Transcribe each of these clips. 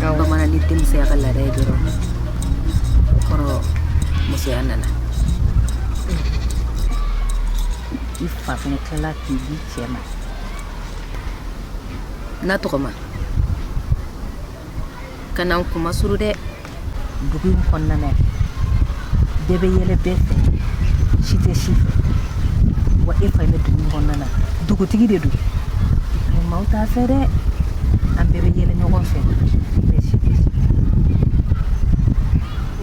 ka bamanan ni denmisɛnya ka laada ye dɔrɔn o kɔrɔ musoya nana i fa fɛnɛ tilala k'i di cɛ ma na tɔgɔma kana n kunmasuuru dɛ dugu in kɔnɔna na bɛɛ bɛ yɛlɛ bɛɛ fɛ si tɛ si fɛ wa e fa bɛ dugu in kɔnɔna na dugutigi de don mɛ maaw t'a fɛ dɛ an bɛɛ bɛ yɛlɛ ɲɔgɔn fɛ mɛ si tɛ si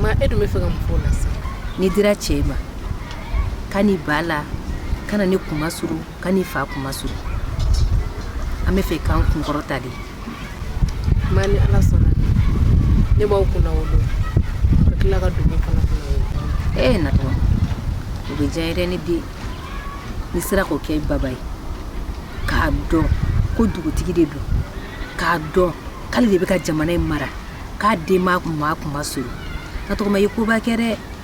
ma e dun bɛ fɛ ka mun fɔ o la sisan n'i dira cɛ ma kan'i ba la kana ne kunmasuuru Kan'i fa kunmasuuru an bɛ fɛ k'an kunkɔrɔta de ma ni ala sɔnna ne b'aw kunnawolo ka tila ka dugu kunnawolo e na o bɛ diya yɛrɛ ne den n'i sera k'o kɛ baba ye k'a dɔn ko dugutigi de don k'a dɔn k'ale de bɛ ka jamana in mara k'a den m'a kunmasuuru na tɔgɔma ye koba kɛ dɛ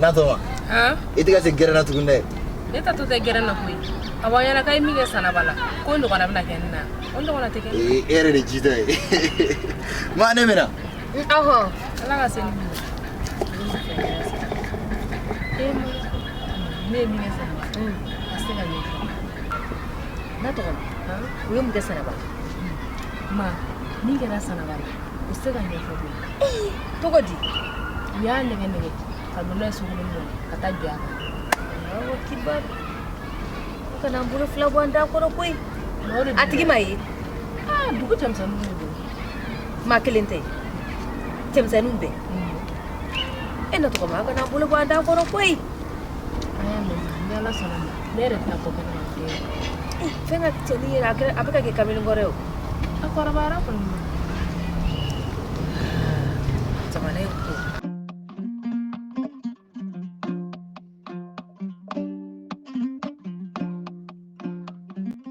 Natɔ i tɛ se gna tugun dɛ e to tɛ g na koyi a ɲɛna i min kɛ san la ko na e yɛrɛ de ji ye ma ne minɛ ma min kɛra sanaba la o se ka ɲɛfɔ bi cogo di u y'a nɛgɛn nɛgɛn ka don n'a ye sokolonnin kɔnɔ ka taa jɔ a kan awo kibaru kana n bolo fila bɔ an da kɔrɔ koyi a tigi ma ye dugu cɛmisɛnninw de don maa kelen tɛ cɛmisɛnninw bɛɛ e na tɔgɔma a kana n bolo bɔ an da kɔrɔ koyi an y'a mɛn ni ala sɔnna ma ne yɛrɛ tɛna bɔ kɛnɛma bilen fɛn ka cɛnin yɛrɛ a kɛra- a bɛ ka kɛ kamalen kɔrɔ ye o a kɔrɔbayara kɔni don. jamana in ko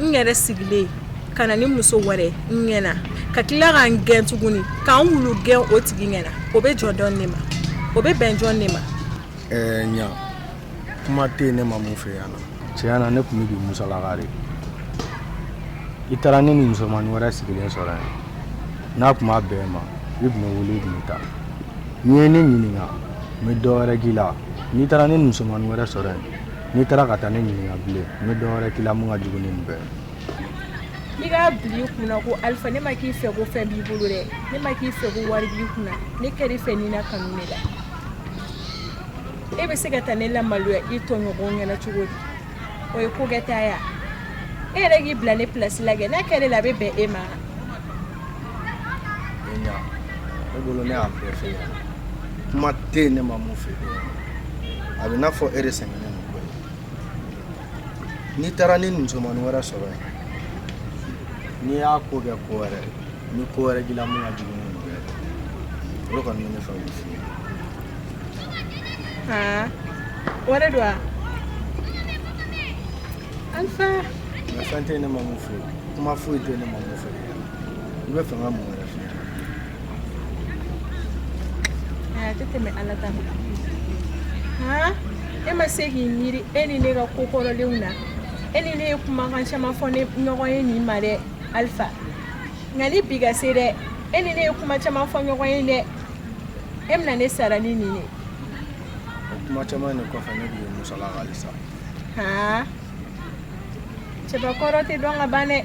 n yɛrɛ sigilen ka na ni muso wɛrɛ n ɲɛ na ka tila ka n gɛn tuguni ka n wulu gɛn o tigi ɲɛ na o bɛ jɔn dɔn ne ma o bɛ bɛn jɔnni ma ɛɛ ɲa kuma tɛ yen ne ma mun fɛ yan na tiɲɛ na ne tun bɛ k'i musalaka de i taara ne ni musomanin wɛrɛ sigilen sɔrɔ yan n'a tun ma bɛn i ma i tun bɛ n wele i tun bɛ taa n'i ye ne ɲininka n bɛ dɔ wɛrɛ k'i la n'i taara ne ni musomanin wɛrɛ sɔrɔ yan n'i taara ka taa ne ɲininka bilen n bɛ dɔwɛrɛ k'i la mun ka jugu ni nin bɛɛ n'i k'a bila i kunna ko alifa ne ma k'i fɛ ko fɛn b'i bolo dɛ ne ma k'i fɛ ko wari b'i kunna ne kɛr'i fɛ ni na kanu ne la e bɛ se ka taa ne lamaloya i tɔɲɔgɔnw ɲɛna cogo di o ye ko kɛta ya e yɛrɛ k'i bila ne pilasi la kɛ n'a kɛr'e la a bɛ bɛn e ma Ee ɲa ne bolo ne y'a bɛɛ f'e ɲɛna kuma tɛ yen ne ma mun f'e ɲɛna a bɛ n'a fɔ e de sɛgɛnnen don koyi n'i taara ni musomanin wɛrɛ sɔrɔ yen n'i y'a ko kɛ ko wɛrɛ ye ni ko wɛrɛ k'i la mun ka jugu ni nin bɛɛ ye o de kɔni bɛ ne fɛ k'o f'i ye aa o de don wa alifa nka fɛn tɛ yen ne ma mun f'e ye kuma foyi tɛ yen ne ma mun f'e ye i bɛ fɛ n ka mun wɛrɛ f'i ye a tɛ tɛmɛ ala ta kan han e ma se k'i miiri e ni ne ka ko kɔrɔlenw na e ni ne ye kumakan caman fɔ ɲɔgɔn ye nin ma dɛ alifa yanni bi ka se dɛ e ni ne ye kuma caman fɔ ɲɔgɔn ye dɛ e bɛna ne sara ni nin ye o kuma caman de kɔfɛ ne b'i ye musala halisa han cɛbakɔrɔ tɛ dɔn ka ban dɛ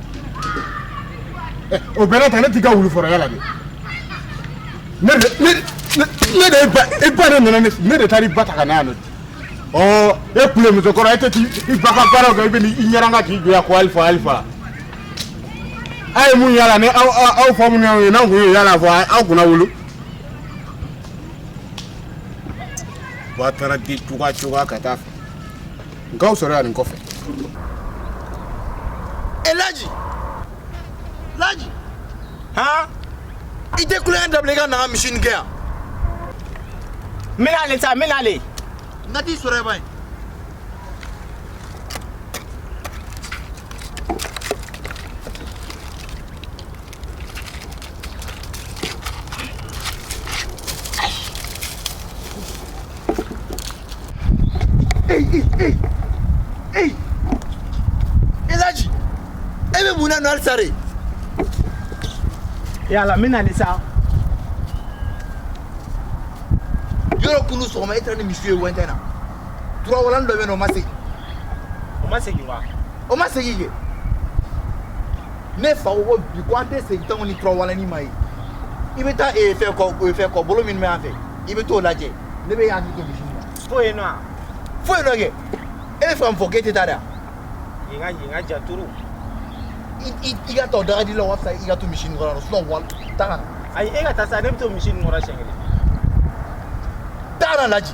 o bɛɛ ta ne t'i ka wulu fɔrɔya la de ne de e ba de nana ne de taara i ba ta ka na yan nɔ e wulu musokɔrɔ e tɛ i ba ka baara kɛ i bɛ i ɲɛ ka k'i jɔ yan ko alifa alifa aw ye mun yala ni aw fa minnu ye n'aw kun ye yala fɔ aw kunna wolo ba taara di cogoya cogoya ka taa fɛ n k'aw sɔrɔ yan nin kɔfɛ e laji laji han i tɛ kulo in dabila i ka na n ka misi nin kɛ yan n bɛna ale sa n bɛna ale n ka t'i sɔrɔ yen ba in Ei, ei, ei. Ei. Elaji. E bɛ mun na nɔ halisa dɛ? Yala n bɛ nali sa. Yɔrɔ kunu sɔgɔma e taara ni misi ye wɛntɛn na. Turawalani dɔ bɛ yen nɔ o ma segin. O ma segin wa? O ma segin kɛ. ne fa ko bi ko an tɛ segin tanko ni turawalani ma ye i bɛ taa ee fɛn kɔ ee fɛn kɔbolo minnu bɛ yan fɛ i bɛ t'o lajɛ ne bɛ yan k'i to misi la fo yen nɔ fo yen nɔ kɛ e bɛ fɛ ka mun fɔ k'e tɛ taa dɛ yen ka yen ka ja turu i ka taa dagadi la walasa i ka to misi nin kɔrɔ sinɔn wali taa ka na ayi e ka taa sa ne bɛ to misi nin kɔrɔ siɲɛ kelen taa ka na laji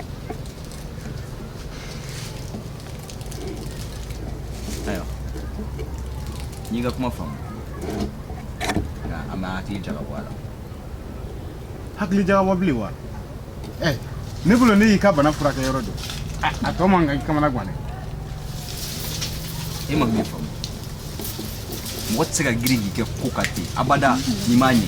aywa n y'i ka kuma faamu nka an bɛ hakili jagabɔ a la hakili jagabɔ bilen wa ɛ ne bolo ne y'i ka bana furakɛ yɔrɔ dɔn a a tɔ man kan k'i kamana gan dɛ e ma min faamu mɔgɔ tɛ se ka girin k'i kɛ ko kan ten abada n'i m'a ɲɛ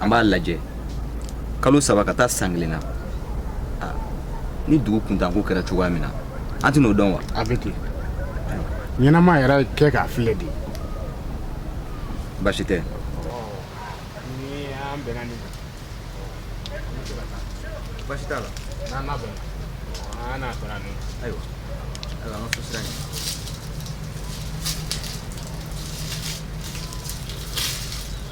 an b'a lajɛ kalo saba ka taa san kelen na ni dugu kuntanko kɛra cogoya min na an tɛn'o dɔn wa a bɛ ten ɲɛnama yɛrɛ kɛ k'a filɛ de baasi tɛ baasi t'a la n'an n'a bɛnna an n'a bɛnna n'o ayiwa ayiwa an ka so sira ɲɛ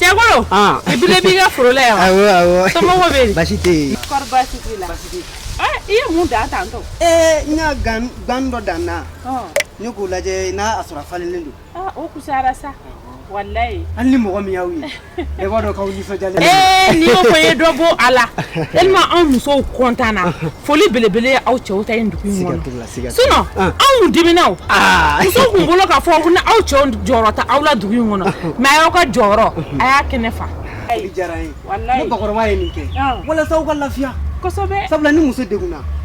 Cɛ i bilen b'i ka foro la yan baasi i ye mun dan tan ee n ka gan dɔ dan na ne k'u lajɛ n'a sɔrɔ a falenlen don sa walayi hali ni mɔgɔ min y'aw ye E b'a dɔn k'aw nisɔndiyalen don, ee n'i y'o fɔ i ye dɔ bɔ a la tellement anw musow content na foli belebele ye aw cɛw ta ye nin dugu in kɔnɔ, siga t'o la, siga t'o la, sinon an, anw tun diminna o, aa, musow kun bolo k'a fɔ ko aw cɛw jɔyɔrɔ tɛ aw la dugu in kɔnɔ mais a y'aw ka jɔyɔrɔ a y'a kɛnɛ fa. foli diyara n ye, walayi, ne bakɔrɔba ye nin kɛ walasa aw ka lafiya, kosɛbɛ, sabula ni muso degunna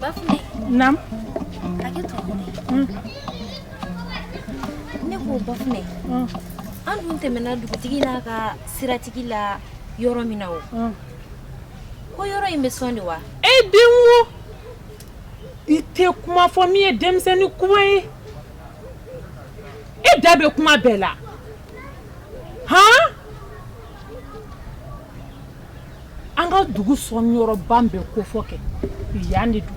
Bafunɛ. Naamu. Hakɛto. Un. Ne ko Bafunɛ. Un. An dun tɛmɛna dugutigi n'a ka siratigi la yɔrɔ min na o. Un. Ko yɔrɔ in bɛ sɔn de wa? E den wo! I tɛ kuma fɔ min ye denmisɛnnin kuma ye. E da bɛ kuma bɛɛ la. Han! an ka dugu sɔn yɔrɔba in bɛ kofɔ kɛ yan de don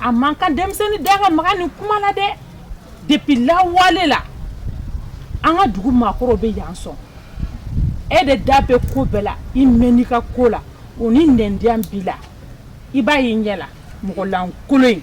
a man kan denmisɛnnin da ka maga nin kuma la dɛ depuis lawale la an ka dugu maakɔrɔw bɛ yan sɔn e de da bɛ ko bɛɛ la i mɛɛn i ka ko la o ni nɛndiya b'i la i b'a y'i ɲɛ la mɔgɔlankolon in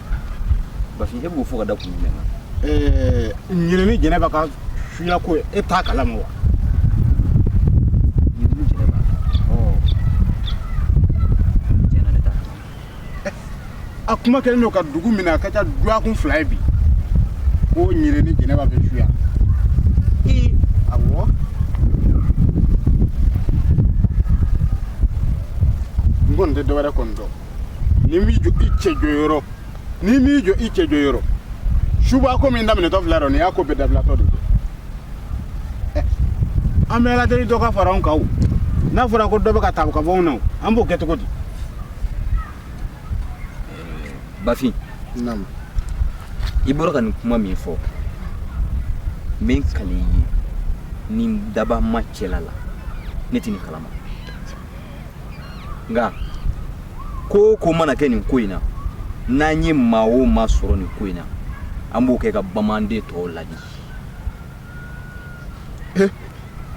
bafin e b'o fɔ ka da kun jumɛn kan ɛɛ ɲele ni jɛnɛba ka suya ko e t'a kalama wa ɲele ni jɛnɛba ɔ tiɲɛ na ne t'a kalama a kuma kɛlen don ka dugu minɛ a ka ca duwakun fila ye bi ko ɲele ni jɛnɛba bɛ suya i awɔ n kɔni tɛ dɔwɛrɛ kɔni dɔn n'i m'i jɔ i cɛ jɔyɔrɔ n'i m'i jɔ i cɛ jɔyɔrɔ suba ko min daminɛtɔ filɛ dɔ nin y'a ko bɛɛ dabilatɔ de ye an bɛ ala deli dɔ ka fara anw kan o n'a fɔra ko dɔ bɛ ka taa ka bɔ anw na o an b'o kɛ cogo di bafin i bɔra ka nin kuma min fɔ n bɛ n kali i ye ni daba ma cɛla la ne tɛ nin kalama nka ko o ko mana kɛ nin ko in na n'an ye maa o maa sɔrɔ nin ko in na an b'o kɛ ka bamanden tɔw ladi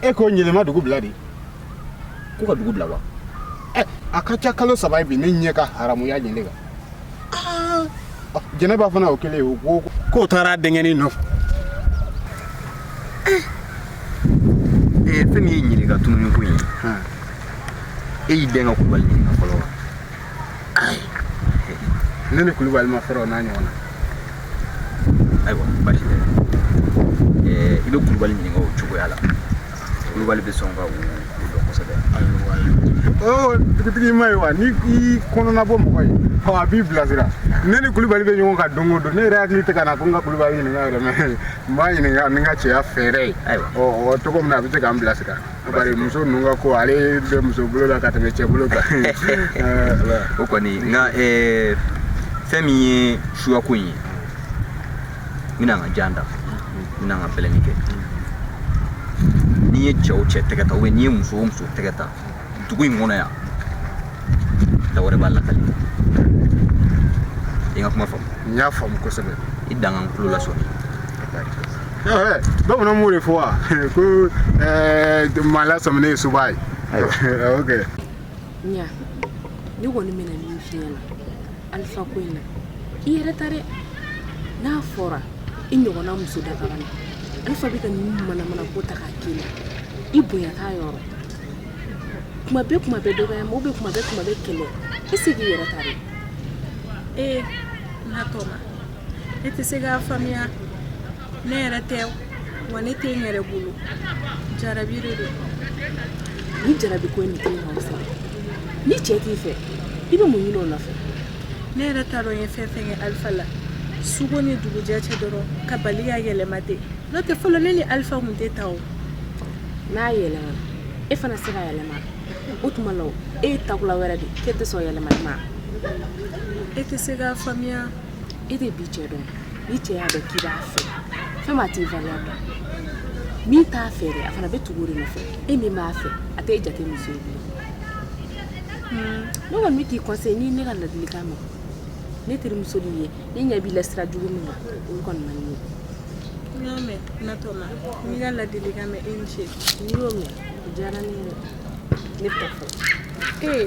e ko ɲɛlɛ ma dugu bila de ko ka dugu bila wa a ka ca kalo saba ye bi ne ɲɛ ka haramuya ɲɛlɛ kan jɛnɛba fana o kɛlen o ko k'o taara a denkɛni nɔfɛ fɛn min ye ɲɛlɛ ka tununni ko in ye e y'i den ka kulubali ɲininka fɔlɔ wa ayi ne ni kulubali ma fɔlɔ n'a ɲɔgɔn na ayiwa basi tɛ i bɛ kulubali ɲininka o cogoya la kulubali bɛ sɔn ka o dɔn kosɛbɛ dugutigi m'a ye wa ni i kɔnɔna bɔ mɔgɔ ye a b'i bilasira ne ni kulubali bɛ ɲɔgɔn kan don o don ne yɛrɛ hakili tɛ ka na ko n ka kulubali ɲininka yɛrɛ mɛ n b'a ɲininka ni n ka cɛya fɛɛrɛ ye ɔ cogo min na a bɛ se k'an bilasira bari muso ninnu ka ko ale bɛ muso bolo la ka tɛmɛ cɛ bolo kan o kɔni nka fɛn min ye suyako in ye n bɛna n ka jan da n bɛna n ka bɛlɛni kɛ n'i ye cɛ o cɛ tɛgɛ ta ou bien n'i ye muso o muso tɛgɛ ta dugu in kɔnɔ yan da wɛrɛ b'a lakali i ye n ka kuma faamu n y'a faamu kosɛbɛ i dangan tulo lasɔmi bamananw m'o de fɔ wa ko maa lasɔminen ye suba ye ok ɲa ne kɔni bɛna min f'i ɲɛ na alifa ko in na i yɛrɛ ta dɛ n'a fɔra i ɲɔgɔnna muso dakabana na alifa bɛ ka nin manamana ko ta k'a k'i la i bonya t'a yɔrɔ kuma bɛɛ kuma bɛɛ dɔgɔya ma ou bien kuma bɛɛ kuma bɛɛ kɛlɛ i se k'i yɛrɛ ta dɛ ee natɔma e tɛ se k'a faamuya ne yɛrɛ tɛ wa ne tɛ n yɛrɛ bolo jarabi de don ni jarabi ko nin tɛna aw sɔrɔ ni cɛ t'i fɛ i bɛ mun ɲini o nɔfɛ ne yɛrɛ t'a dɔn n ye fɛn fɛn kɛ alifa la su ko ni dugujɛ cɛ dɔrɔn ka bali ka yɛlɛma ten n'o tɛ fɔlɔ ne ni alifa tun tɛ tan o n'a yɛlɛmana e fana se ka yɛlɛma o tuma la e ye takula wɛrɛ de k'e tɛ sɔn yɛlɛmali ma e tɛ se k'a faamuya e tɛ bi cɛ dɔn ni cɛ y'a dɔn k'i b'a fɛ fɛn ma t'i valeur dɔn min t'a fɛ dɛ a fana bɛ tugu o de nɔfɛ e min b'a fɛ a t'e jate muso ye bilen hmm. ne kɔni bɛ k'i conseiller n'i ne ka ladilikan mɛn ne terimuso de ye ne ɲɛ b'i la sira jugu min na o kɔni man di ne ye n y'a mɛn natɔma n y'i ka ladilikan mɛn i ni ce n'i y'o mɛn o diyara ne ye dɛ ne bɛ taa fɔlɔ ee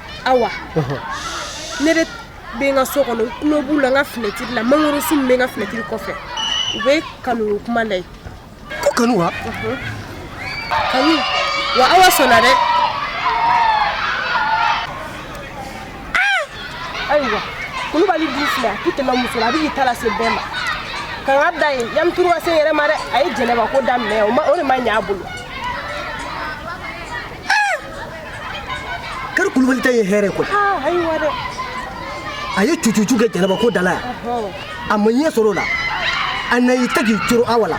awa ne de bɛ n ka so kɔnɔ n tulo b'u la n ka finɛtiri la mangorosun min bɛ n ka finɛtiri kɔfɛ u bɛ kanuko kuma la yen ko kanu wa kanu wa awa sɔnna dɛ ayiwa kulubali dun filɛ a tɛ tɛmɛ muso la a bɛ k'i ta lase bɛɛ ma ka n ka da yen yanni turu ka se n yɛrɛ ma dɛ a ye jɛnɛba ko daminɛ o de ma ɲɛ a bolo kari kulubali ta ye hɛrɛ koyi a ye cucucu kɛ jɛnɛba ko da la yan a ma ɲɛ sɔrɔ o la a na y'i ta k'i coro awa la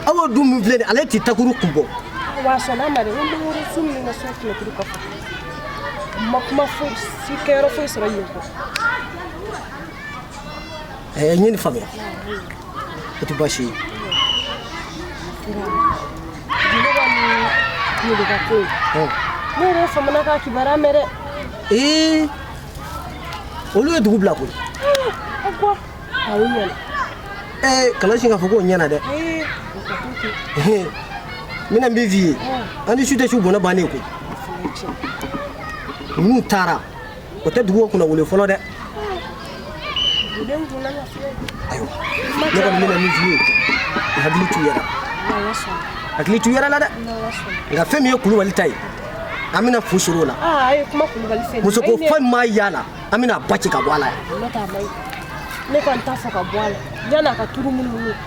awa dun min filɛ nin ale t'i takuru kun bɔ awa sɔnna a ma dɛ ko mangorosun min ka so finɛtiri kɔfɛ ma kuma foyi si kɛyɔrɔ foyi sɔrɔ yen kɔ A ye ɲini faamuya o tɛ baasi ye ee olu ye dugu bila koyi ee kana sin k'a fɔ k'o ɲɛna dɛ min ne bɛ f'i ye an ni su tɛ su bɔnɛ bannen koyi n'u taara o tɛ dugu kunnawolo fɔlɔ dɛ ayiwa ne kɔni bɛna min f'i ye i hakili to i yɛrɛ hakili to i yɛrɛ la dɛ nka fɛn min ye kulubali ta ye an bɛna fu sɔrɔ o la muso ko fɛn ma y'a la an bɛna ba ci ka bɔ a la yan ne kɔni t'a fɔ ka bɔ a la yan'a ka turu munumunu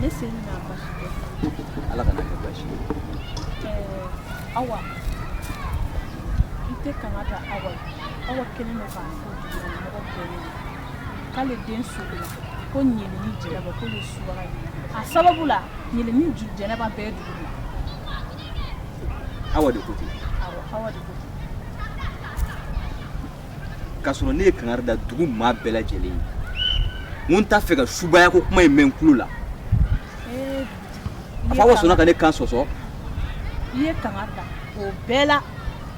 ne se ni n'a baasi tɛ ala kana a kɛ baasi ye eh, awa i tɛ kanga da awa awa kelen don k'a fɔ mɔgɔ bɛɛ ye k'ale den sugu la ko ɲele ni jɛnɛba k'o ye subaga ye a sababu la ɲele ni jɛnɛba bɛɛ dugu la awa de ko ten awa awa de ko ten k'a sɔrɔ ne ye kangari da dugu maa bɛɛ lajɛlen ye n ko n t'a fɛ ka subaya ko kuma in mɛn n tulo la a fɔ awa sɔnna ka ne kan sɔsɔ i ye kangari da o bɛɛ la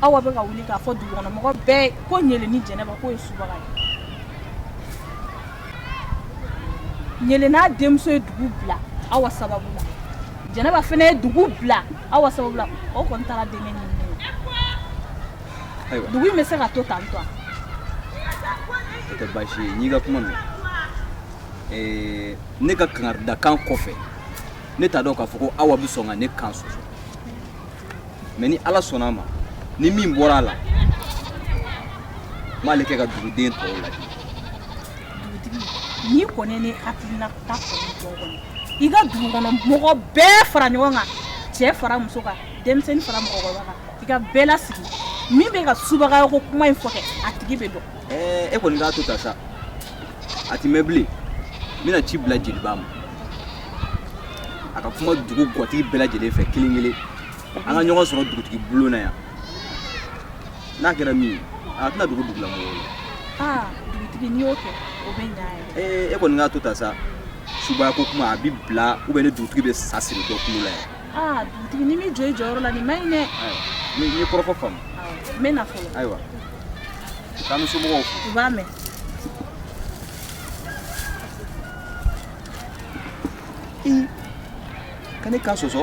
awa bɛ ka wuli k'a fɔ dugukɔnɔmɔgɔ bɛɛ ko ɲele ni jɛnɛba k'o ye subaga ye ɲele n'a denmuso ye dugu bila awa sababu la jɛnɛba fana ye dugu bila awa sababu la o kɔni taara denkɛ ɲini ayiwa dugu in bɛ se ka to tan tɔ o tɛ baasi ye n'i ka kuma mɛn ne ka kangaridakan kɔfɛ ne t'a dɔn k'a fɔ ko awa bɛ sɔn ka ne kan sɔsɔ mɛ ni ala sɔnna a ma ni min bɔra a la n b'ale kɛ ka duguden tɔw ladi dugutigi n'i kɔni ne hakilina ta kɔni jɔ kɔni i ka dugu kɔnɔ mɔgɔ bɛɛ fara ɲɔgɔn kan cɛ fara muso kan denmisɛnnin fara mɔgɔkɔrɔba kan i ka bɛɛ lasigi min bɛ ka subaga ko kuma in fɔ kɛ a tigi bɛ dɔn e kɔni k'a to tan sa a ti mɛn bilen n bɛna ci bila jeliba ma a ka kuma dugu gatigi bɛɛ lajɛlen fɛ kelen kelen an ka ɲɔgɔn sɔrɔ dugutigi bulon na yan n'a kɛra min ye a tɛna dogo dugula mɔgɔw la aa dugutigi n'i y'o kɛ o bɛ ɲa yɛrɛ e kɔni k'a to tan sa subaya ko kuma a bi bila ubiyɛn ni dugutigi bɛ sa siri dɔ kulo la yan aa dugutigi n'i ma jɔ i jɔyɔrɔ la nin man ɲi dɛ ne ye kɔrɔfɔ faamu n bɛ na fɔlɔ ayiwa k'an bɛ somɔgɔw fo u b'a mɛn i ka ne kan sɔsɔ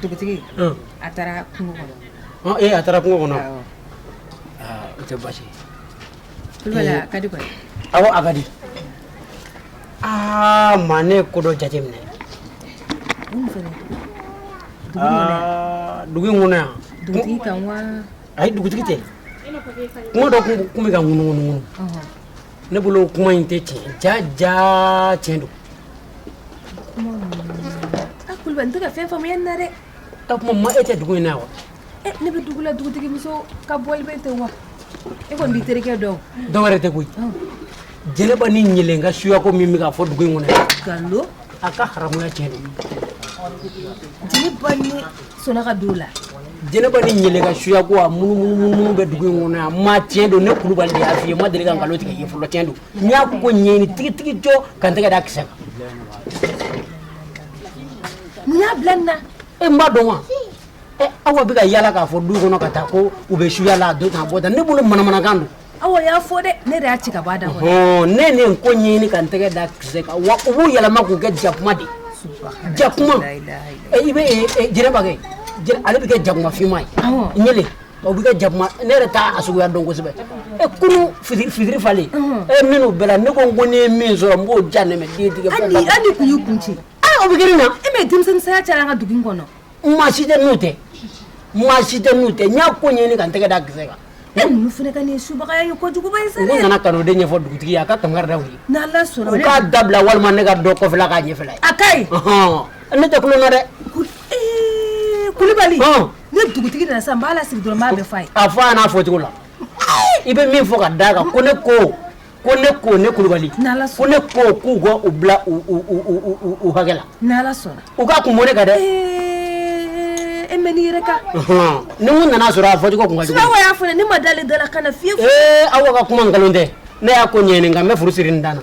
dugutigi a taara kungo kɔnɔ a taara kungo kɔnɔ o tɛ baasi a ka di awɔ a ka di aa ma ne ko dɔ jateminɛ dugu in kɔnɔ yan ayi dugutigi tɛ kuma dɔ tun bɛ ka ŋunuŋunuŋunu ne bolo kuma in tɛ tiɲɛ ja ja tiɲɛ don A kulubali n tɛ ka fɛn faamuya nin na dɛ ka kuma ma e tɛ dugu in na wa ne bɛ dugu la dugutigimuso ka bɔli bɛ ten wa e kɔni b'i terikɛ dɔn dɔ wɛrɛ tɛ koyi jɛnɛba ni ɲɛlen ka suyako min bɛ fɔ dugu in kɔnɔ nkalon a ka haramuya cɛ jeliba ni soka don la jɛnɛba ni ɲɛlen ka suyako a ŋunuŋunu bɛ dugu in kɔnɔ yan ma tiɲɛ don ne kulubali y'a fɔ i ye n ma deli ka nkalon tigɛ fɔlɔ cɛn don n y'a ko ɲɛɲini tigitigi jɔ ka n tɛgɛ da kisɛ kan mun y'a bila nin na e n b'a dɔn wa ɛ awa bɛ ka yala k'a fɔ du kɔnɔ ka taa ko u bɛ suya la a don tan a bɔ tan ne bolo manamanakan don awa y'a fɔ dɛ ne de y'a ci ka bɔ a da kɔnɔ ne nin ko ɲɛɲini ka n tɛgɛ da kisɛ kan wa u b'u yɛlɛma k'u kɛ jakuma de jakuma i bɛ jɛnɛba kɛ ale bɛ kɛ jakuma finma ye ɲɛlen O bɛ kɛ jakuma ne yɛrɛ t'a suguya dɔn kosɛbɛ e kunun fitiri falen e minnu bɛɛ la ne ko n ko ne ye min sɔrɔ n b'o ja nɛmɛ den tigɛ hali kun y'i kun ci o bɛ kɛ nin na e mɛ denmisɛnnin saya cayara an ka dugu in kɔnɔ maa si tɛ n'u tɛ maa si tɛ n'u tɛ n y'a ko ɲɛɲini ka n tɛgɛ da kisɛ kan e ninnu fana ka nin subagaya ye kojuguba ye sa ne nana ka n'o de ɲɛfɔ dugutigi ye a ka kangari da u ye n'ala sɔnna u k'a dabila walima ne ka dɔ kɔfɛla k'a ɲɛfɛla ye a ka ɲi ne tɛ tulon na dɛ kulubali ni dugutigi nana sisan n b'a lasigi dɔrɔn n b'a bɛɛ f'a ye. a fɔ a ɲɛna a fɔcogo la i bɛ min fɔ ka d'a kan ko ne ko ko ne ko ne kulubali ko ne ko k'u ka u bila u hakɛ la n'ala sɔnna u ka kun bɔ ne kan dɛ e mɛ n'i yɛrɛ kan ni mun nana sɔrɔ a fɔcogo kun ka jugu Awa y'a fɔ ne ma dalen dala kana fiyewu ee Awa ka kuma nkalon tɛ ne y'a ko ɲɛɲini nka n bɛ furu siri n dan na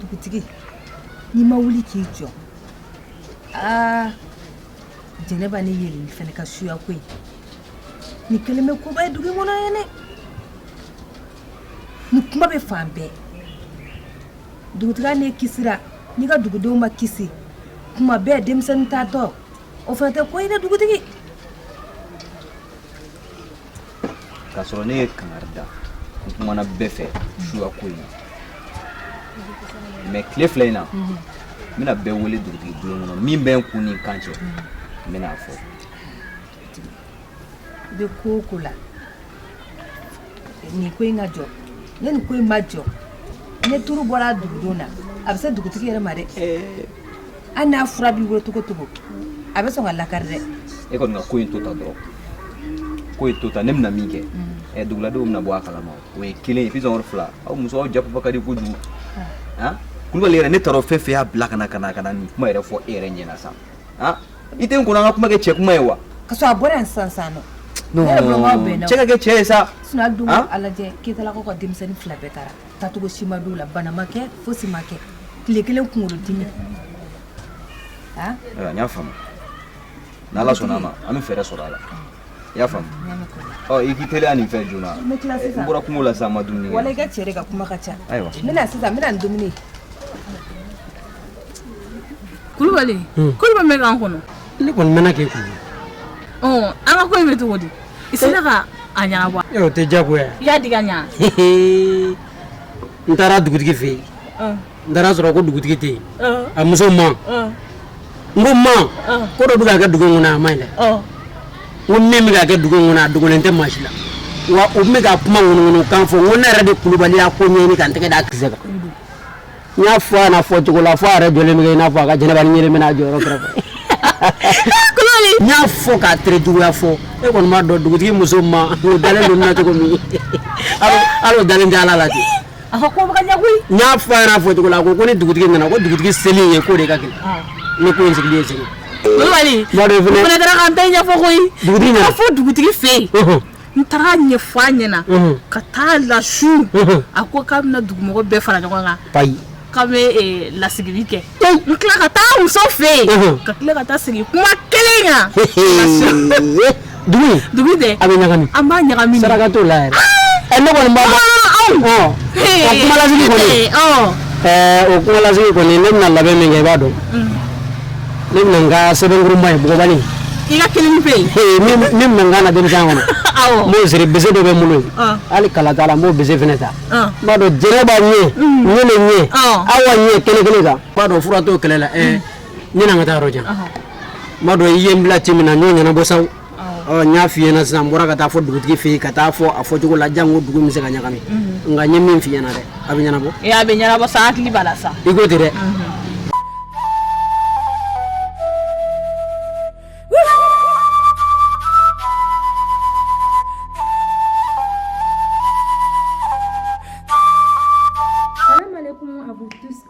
dugutigi n'i ma wuli k'i jɔ aa jɛnɛba ni yeli fana ka suya ko in nin kɛlen bɛ koba ye dugu in kɔnɔ yen dɛ nin kuma bɛ fan bɛɛ dugutigi n'e kisira n'i ka dugudenw ma kisi tuma bɛɛ denmisɛnnin taatɔ o fana tɛ ko ye dɛ dugutigi k'a sɔrɔ ne ye kangari da n kumana bɛɛ fɛ suya ko in na mais tile fila in na n bɛna bɛɛ wele dugutigi bulon kɔnɔ min bɛ n kun ni n kan cɛ n bɛna a fɔ i bɛ ko o ko la nin ko in ka jɔ ni nin ko in ma jɔ ne turu bɔra dugudenw na a bɛ se dugutigi yɛrɛ ma dɛ Hali n'a fura b'i bolo cogo cogo a bɛ sɔn ka lakari dɛ e kɔni ko in to tan dɔrɔn ko in to tan ne bɛna min kɛ ɛ duguladenw na bɔ a kalama o ye kelen ye fila aw musow janfa ka di kojugu kulubali yɛrɛ ne taara fɛn fɛn y'a bila ka ka ka na nin kuma yɛrɛ fɔ e yɛrɛ ɲɛna sa i tɛ n kɔnɔ an ka kuma kɛ cɛ kuma ye wa ka sɔrɔ a bɔra yan sisan cɛ ka kɛ cɛ ye sa Keyitalakaw ka denmisɛnnin fila bɛɛ taara taacogo si ma dɔn u la bana ma kɛ fosi ma kɛ tile kelen kunkolodimi n y'a faamu n'ala sɔnna a ma an bɛ fɛɛrɛ sɔrɔ a la i y'a faamu ɔ i k'i teliya nin fɛn joona n bɔra kungo la sisan n ma dumuni kɛ wala i ka cɛ de ka kuma ka ca ayiwa n bɛna sisan n bɛna ni dumuni kulubali kulubali bɛ k'an kɔnɔ ne kɔni mɛnna k'e kɔnɔ an ka ko in bɛ cogo di I sera ka a ɲɛnabɔ e o tɛ jago i y'a di ɲɛ n taara dugutigi fɛ yen n taara sɔrɔ ko dugutigi tɛ yen a muso ma n ko a ma ko dɔ bɛ ka kɛ dugu kɔnɔ a man ɲi dɛ n ko min bɛ ka kɛ dugu kɔnɔ a dogolen tɛ maa si la wa u bɛ ka kuma ŋunuŋunu kan fɔ n ko ne yɛrɛ de kulubali y'a ko ɲɛɲini ka n tɛgɛ da a kisɛ kan n y'a fɔ a na fɔ cogo la fo a yɛrɛ jɔlen bɛ kɛ i n'a fɔ a ka jɛnɛba ni ɲele bɛna a jɔyɔrɔ kɛrɛfɛ n y'a fɔ k'a tere juguya fɔ e kɔni b'a dɔn dugutigi muso ma o dalen don n na cogo min hali o dalen tɛ ala la ten a fɔ ko bɛ ka ɲɛ koyi n y'a fɔ a yɛrɛ a fɔ cogo la a ko ko ni dugutigi nana ko dugutigi seli ye ko de ka gɛlɛn ni ko in sigilen ye seli kulubali Mɔden fɛnɛ- o fana taara k'an bɛɛ ɲɛfɔ koyi Dugutigi nana. Ka fɔ dugutigi fɛ yen Ɔhɔn. n taara a ɲɛfɔ a ɲɛna ka taa lasu a ko k'a bɛna dugumɔgɔ bɛɛ fara ɲɔgɔn kan k'a bɛ eh, lasigili kɛ n tila ka taa muso fɛ yen ka tila ka taa sigi kuma kelen kan dugu dugu dɛ a bɛ ɲagami an b'a ɲagami saraka t'o la yɛrɛ ah! eh, ne kɔni b'a dɔn o kumalasigi kɔni o kumalasigi kɔni ne bɛna labɛn min kɛ i b'a dɔn mm. ne bɛna n ka sɛbɛnkurunba in bugɔbali i ka kelen bɛ yen ee min min bɛna n ka na denmisɛn kɔnɔ awɔ n b'o siri bese dɔ bɛ n bolo yen Ɔn. hali kala t'a la n b'o bese fana ta Ɔn. n b'a dɔn jɛnɛba ɲɛ ɲele ɲɛ Ɔn. awa ɲɛ kɛnɛ kelen kan n b'a dɔn fura t'o kɛlɛ la ɛɛ ne na n ka taa yɔrɔ jan n b'a dɔn i ye n bila ci min na n y'o ɲɛnabɔ saw ɔ n y'a f'i ɲɛna sisan n bɔra ka taa fɔ dugutigi fɛ yen ka taa fɔ a fɔcogo la jango dugu bɛ se ka ɲagami mhm. nka n ye min f'i ɲɛna dɛ a bɛ ɲɛnabɔ ee a bɛ ɲɛnabɔ sa hakili b'a la sa i ko ten dɛ mhm.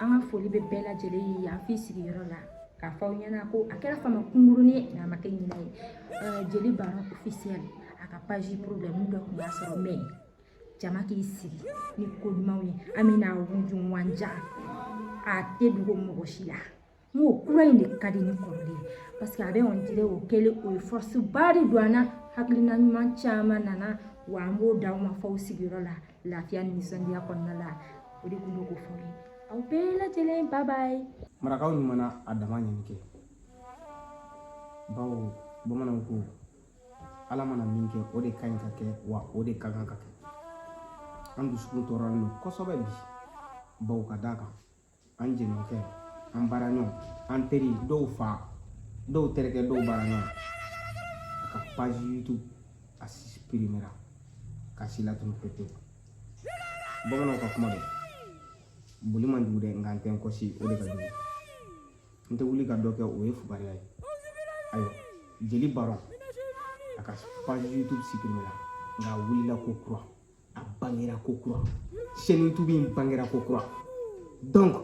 an ka foli bɛ bɛɛ lajɛlen ye yan f'i sigiyɔrɔ la k'a fɔ aw ɲɛna ko a kɛra fama kunkurunin ye a ma kɛ ɲinɛ ye jeli baron officiel a ka page problème dɔ tun b'a sɔrɔ mais jama k'i sigi ni ko ɲumanw ye an bɛna wujun wanja a tɛ dogo mɔgɔ si la n ko kura in de ka di ni kɔrɔlen ye parce que a bɛ on dirait o kɛlen o ye force ba de don an na hakilina ɲuman caman nana wa an b'o d'aw ma fo aw sigiyɔrɔ la Lafiya ni nisɔndiya kɔnɔna la o de tun bɛ ko fɔ ye aw bɛɛ lajɛlen bye bye marakaw ɲuman na a dama ɲini kɛ bawo bamananw ko ala mana min kɛ o de ka ɲi ka kɛ wa o de ka kan ka kɛ an dusukun tɔɔrɔlen don kosɛbɛ bi bawo ka d'a kan an jɛɲɔgɔnkɛ an baaraɲɔgɔn an teri dɔw fa dɔw terikɛ dɔw baaraɲɔgɔn a ka page youtube a supprimera k'a si latunu pepewu bamananw ka kuma don boli man jugu dɛ nka n tɛ n kɔsi o de ka jugu n tɛ wuli ka dɔ kɛ o ye fugariya ye ayiwa jeli baron a ka page youtube supprimera nka a wulila ko kura a bangera ko kura chaîne youtube in bangera ko kura donc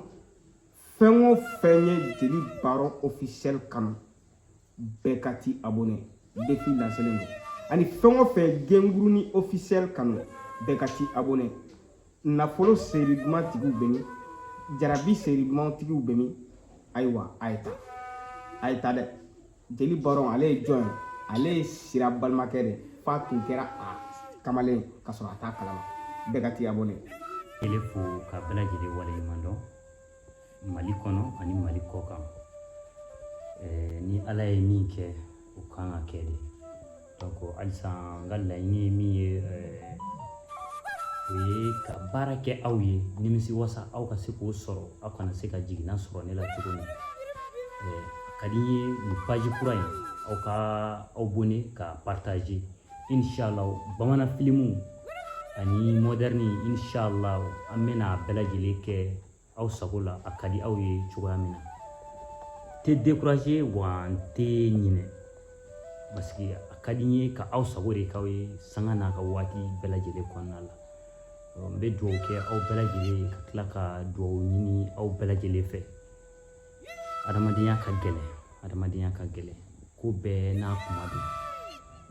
fɛn o fɛn ye jeli baron officiel kanu bɛɛ ka t'i abonné défi lancelen don ani fɛn o fɛn gengurunin officiel kanu bɛɛ ka t'i abonné nafolo seri duman tigiw bɛ min jarabi seri duman tigiw bɛ min ayiwa a ye taa a ye taa dɛ jeli baron ale ye jɔn ye ale ye sira balimakɛ de f'a tun kɛra a kamalen ka sɔrɔ a t'a kalama bɛɛ ka t'i abonné ele fo ka bɛɛ lajɛlen waleɲuman dɔn mali kɔnɔ ani mali kɔ kan ni ala ye min kɛ o kan ka kɛ de halisa n ka laɲini ye min ye o ye ka baara kɛ aw ye nimisiwasa aw ka se k'o sɔrɔ aw kana se ka jiginna sɔrɔ ne la cogo min ka di n ye nin paji kura in aw ka abonné ka partaze inshallah bamanan filimu ani modɛrni inshallah an bɛna a bɛɛ lajɛlen kɛ aw sago la a ka di aw ye cogoya min na n tɛ décourager wa n tɛ ɲinɛ parce que a ka di n ye ka aw sago de k'aw ye sanga n'a ka waati bɛɛ lajɛlen kɔnɔna la n bɛ dugawu kɛ aw bɛɛ lajɛlen ye ka tila ka dugawu ɲini aw bɛɛ lajɛlen fɛ adamadenya ka gɛlɛn adamadenya ka gɛlɛn ko bɛɛ n'a kuma don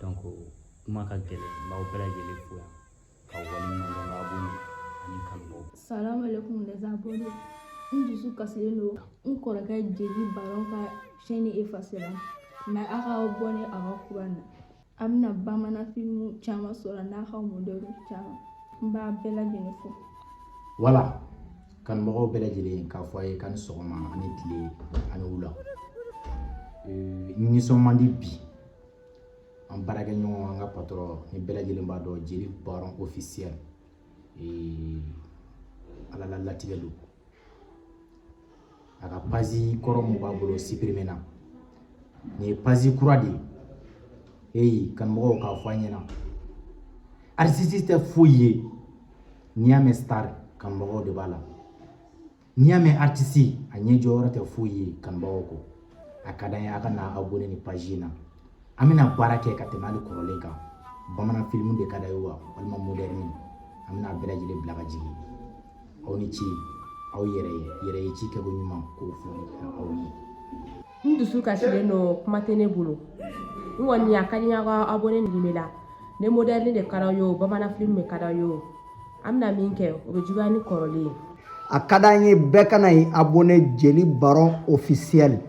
donc kuma ka gɛlɛn n b'aw bɛɛ lajɛlen fo yan ka waleɲumandɔn ka abonné ani kanubaw salamu alaikum les abonnés n dusu kasilen don n kɔrɔkɛ jeli baron ka chaîne effacera mais a ka abonné a ka kura na a bɛna bamanan filimu caman sɔrɔ n'a ka modɛrni caman n b'a bɛɛ lajɛlen fo voilà kanubagaw bɛɛ lajɛlen k'a fɔ a ye k'ani sɔgɔma ani tile ani wula nisɔn man di bi an baarakɛ ɲɔgɔn an ka patɔrɔn ni bɛɛ lajɛlen b'a dɔn jeli baron ofisiyɛl ala la latigɛ don a ka pazi kɔrɔ mun b'a bolo sipirimena nin ye pazi kura de ye eyi kanumɔgɔw k'a fɔ an ɲɛna aritisi tɛ foyi ye n'i y'a mɛn star kanumɔgɔw de b'a la n'i y'a mɛn aritisi a ɲɛ jɔyɔrɔ tɛ foyi ye kanubagaw kɔ a ka d'an ye a ka na abonné nin paji in na an bɛna baara kɛ ka tɛmɛ hali kɔrɔlen kan bamanan filimu de ka d'aw ye wa walima modɛrni an bɛna bɛɛ lajɛlen bila ka jigin aw ni ce aw yɛrɛ ye yɛrɛ ye ci kɛko ɲuman k'o fɔ aw ye n dusu kasilen don kuma tɛ ne bolo n kɔni a ka di n ye aw ka abonné nin la ni moderne de ka d'aw ye o bamanan film de ka d'aw ye o an bɛna min kɛ o bɛ juguya ni kɔrɔlen ye a ka d'an ye bɛɛ ka na i abonné jeli baron officiel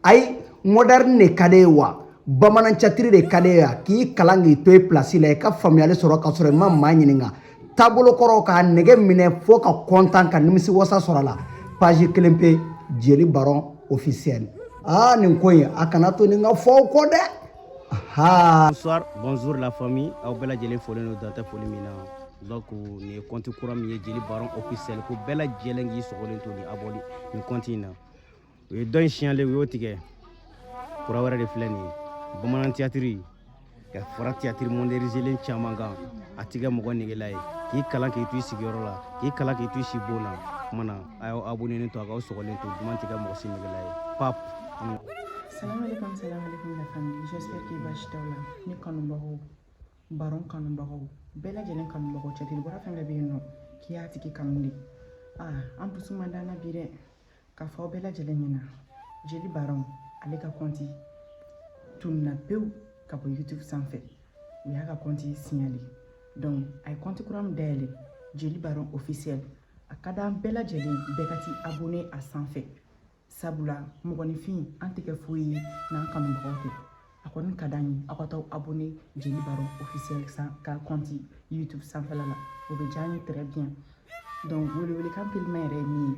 ayi moderne de ka d'e ye wa bamanan catiri de ka d'e ye wa k'i kalan k'i to i place la i ka faamuyali sɔrɔ ka sɔrɔ i ma maa ɲininka taabolo kɔrɔ k'a nege minɛ fo ka kɔntan ka nimisi wasa sɔrɔ a la page kelen pe jeli baron officiel aa nin ko in a kana to nin ka fɔ aw kɔ dɛ bonsoir bonjour la famille aw bɛɛ lajɛlen folen don dan tɛ foli min na donc nin ye kɔnti kura min ye jeli baron officiel ko bɛɛ lajɛlen k'i sɔgɔlen to ni abonné nin kɔnti in na u ye dɔ in signalé u y'o tigɛ kura wɛrɛ de filɛ nin ye bamanan tiyatiri ka fara tiyatiri modɛrinizelen caman kan a tɛ kɛ mɔgɔ negela ye k'i kalan k'i to i sigiyɔrɔ la k'i kalan k'i to i sibon na kuma na a y'aw abonenen to a k'aw sɔgɔlen to duman tɛ kɛ mɔgɔ si negela ye pap Salam alaikum, salam alaikum la famille. J'espère que baasi t'aw la. Ne kanubagaw, baron kanubagaw, bɛɛ lajɛlen kanubagaw cɛtiri bɔra fɛn bɛɛ bɛ yen nɔ k'i y'a tigi kanu de. Aa an dusu man d'an na bi dɛ. k'a fɔ aw bɛɛ lajɛlen ɲɛna jeli baron ale ka kɔnti tununna pewu ka bɔ youtube sanfɛ u y'a ka kɔnti signalé donc a ye kɔnti kura min dayɛlɛ jeli baron officiel a ka d'an bɛɛ lajɛlen bɛɛ ka t'i abone a sanfɛ sabula mɔgɔninfin an tɛ kɛ foyi ye n'an kanubagaw tɛ a kɔni ka d'an ye aw ka taa abonné jeli baron officiel ka kɔnti youtube sanfɛla la o bɛ diya an ye très bien donc welewelekan teliman yɛrɛ ye min ye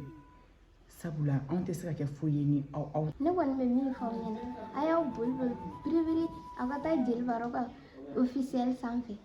sabula anw tɛ se ka kɛ foyi ye ni aw aw ne kɔni bɛ min fɔ aw ɲɛna a y'aw boli boli biribiri aw ka taa jeli baron ka officiel sanfɛ